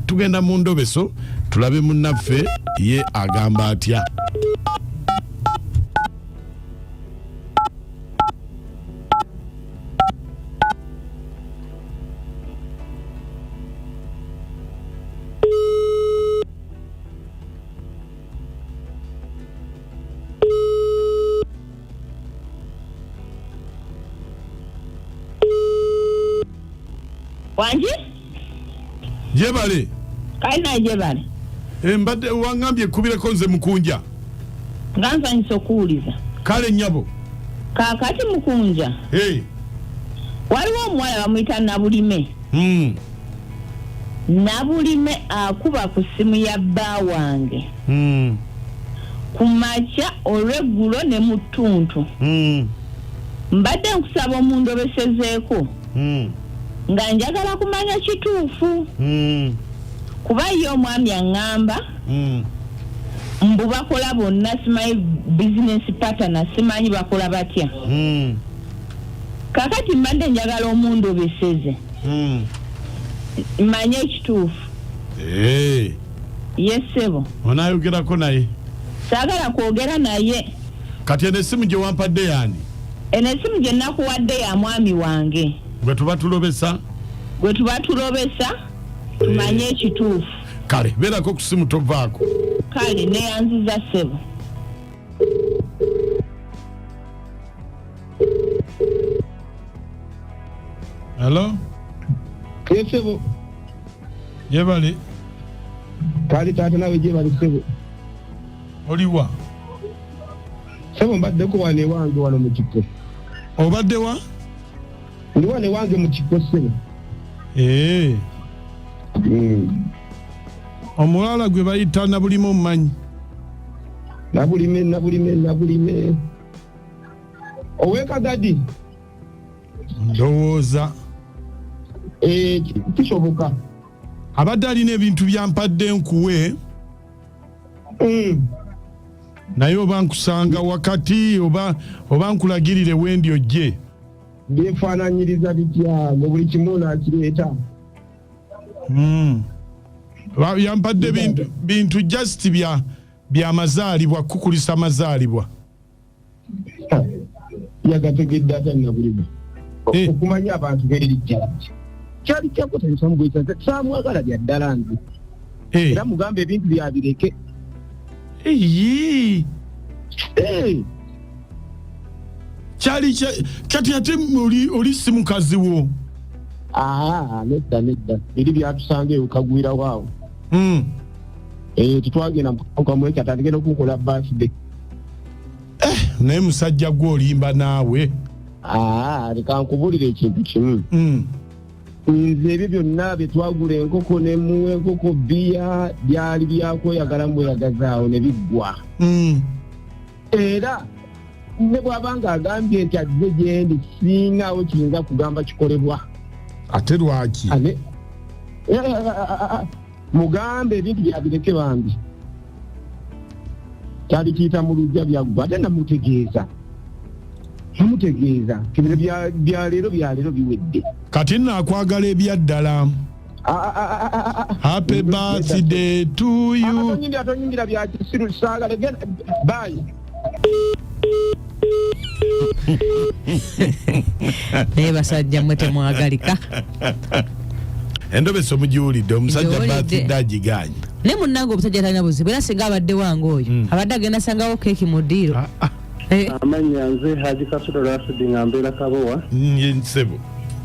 tugenda mu ndobeso tulabe munnaffe ye agamba atya jebale kale naye jebale eh, mbadde wangambye kubireko nze mukunja nga nsanyusa okuwuliza kale nyabo kakati mukunja hey. waliwo omuwala bamuyita nabulime mm. nabulime akuba ku simu ya bba wange mm. ku makya olweggulo ne mu ttuntu mm. mbadde nkusaba omundobesezeeko mm. nga njagala kumanya kituufu mm. kuba ye omwami aŋŋamba mm. mbu bakola bonna simanyi business patana simanyi bakola batya mm. kakati mbadde njagala omundu obeseze mm. manye ekituufu hey. Eh. yesebo onayogerako naye sagala kwogera naye kati eno esimu gyewampadde yani Eno esimu gye nakuwadde ya mwami wange. Gwe tuba tulobesa. Gwe tuba tulobesa tumanye eh. ekituufu. Kale beerako ku simu tovaako. Kale neyanziza ssebo. Hello? Yes, ssebo. Yebale. Kale taata nawe gyebali ssebo. oliwa sebo mbaddeko wano ewange wano mu kiko obadde wa ndi wano ewange mu kiko sebo ee hmm. omuwala gwe bayita nabulime omumanyi nabulime nabulime nabulime owekagadi ndowooza eh, kisoboka abadde alina ebintu byampadde nkuwe mm. naye oba nkusanga wakati oba oba nkulagirire wendi ojje byefaananyiriza bitya mu buli kimu nakireeta mm. yampadde bintu just bya byamazaalibwa kukulisa amazaalibwa yagategedde ata nabulimu eh. okumanya abantu berijja kyali kyakotaisamugwesate samwagala bya ddala nze eh. era mugamba ebintu byabireke eh. kyali kati ate oli si mukazi wo ah, nedda nedda eri byatusanga eyo kagwirawo awo hmm. tetwagenda mukamwekyo atandikenda okukola basde eh, naye musajja gwe olimba naawe ah, leka nkubulira ekintu kimu mm. nze ebyo byonna bye twagula enkoko ne muwa enkoko bbiya byali byakweyagala mbweyagazaawo ne biggwa mm. era ne bw'aba ng'agambye nti azze gyendi singaawo kiyinza kugamba kikolebwa ate lwaki mugambe ebintu byabireke bambi kyalikiita mu lujja byaggwa ate namutegeeza namutegeeza tibino byaleero byaleero biwedde kati naakwagala ebyaddala happy birthday to you atonyingira byakisiru saagala bayi naye basajja mwe temwagalika endobesa omugiwulidde omusajja batidde agiganye naye munange omusajja talina buzibu era singa abadde wange oyo hmm. abadde agenda sangawo keeki mu ddiiro ah, ah. Eh. amanya nze haji kasulo rasidi nga mbeera kabowa nsebo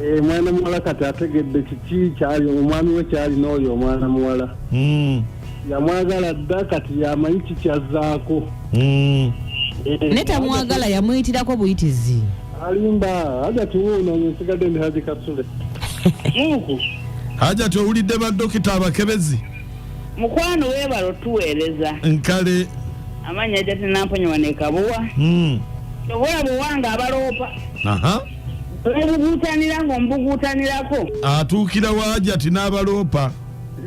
eh, mwana muwala kati ategedde kiki kyali omwami we kyalina oyo omwana muwala hmm. yamwagala dda kati yamanyi kikyazzaako mm. eh, naye tamwagala yamuyitirako buyitizi alimba hajati wuuno nsigadde ndi haji kasule hajati owulidde badokita abakebezi mukwano webala otuweereza nkale amanyi hajati namponya wanekabuwa mm. obola bwewanga abaloopa obuguutanira ngaomubuguutanirako atuukira wa hajati n'abaloopa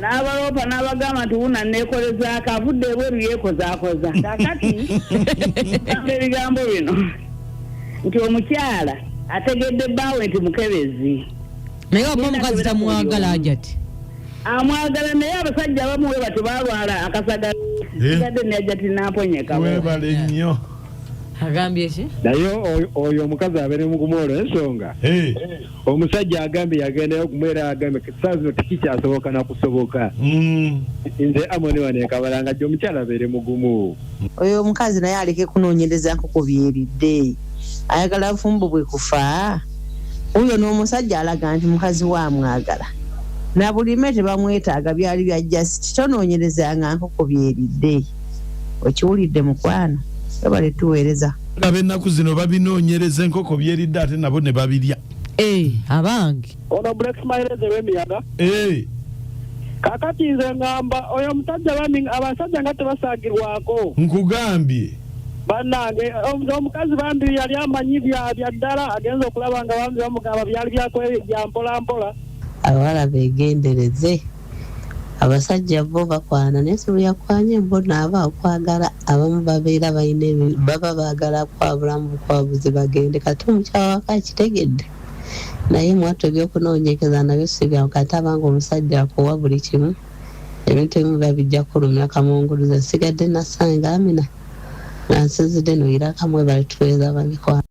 n'abaloopa n'abagamba nti wuna neekolezaako avudde ebweru yeekozaakoza kakati gamba ebigambo bino nti omukyala ategedde bbaawe nti mukebezi naye oba omukazi tamwagala ajati amwagala naye abasajja abamu we batyo balwala akasaga eh? gadde neajati namponyeka webale nnyo agambye ki naye oyo omukazi abeere mugumu olwensonga eh. omusajja agambye yagendayo kumwe era agambye saa zino tekikyasoboka nakusoboka mm. nze amoni wanekabala nga gye omukyala abeere mugumu oyo omukazi naye aleke kunoonyereza nkoko byeridde ayagala bufumbo bwe kufa oyo n'omusajja alaga nti mukazi we amwagala na bulime tebamwetaaga byali bya jasiti tonoonyerezanga nkoko byeridde okiwulidde mukwano webale tuweereza laba ennaku zino babinoonyereza enkoko byeridde ate nabo ne babirya eh, abange ono black smileze w'emiyaga eh. kakati nze ngamba oyo omusajja bami abasajja nga tebasagirwako nkugambye banange omukazi bambi yali amanyi bya ddala agenza okulaba nga bambi bamugamba byali byampolampola abawala begendereze abasajja bo bakwana naye sibuyakwanye bo naaba okwagala abamu babeera balina baba baagala kwabulamu bukwabuzi bagende kati omukyala wako akitegedde naye mwatto ebyokunoonyekeza nabyo sibyangu kati abanga omusajja akuwa buli kimu ebintu ebimu biba bijja kulumya kamunguluze nsigadde nasanga amina nga nsinzidde noyira kamwe bali tuweeza bamikwano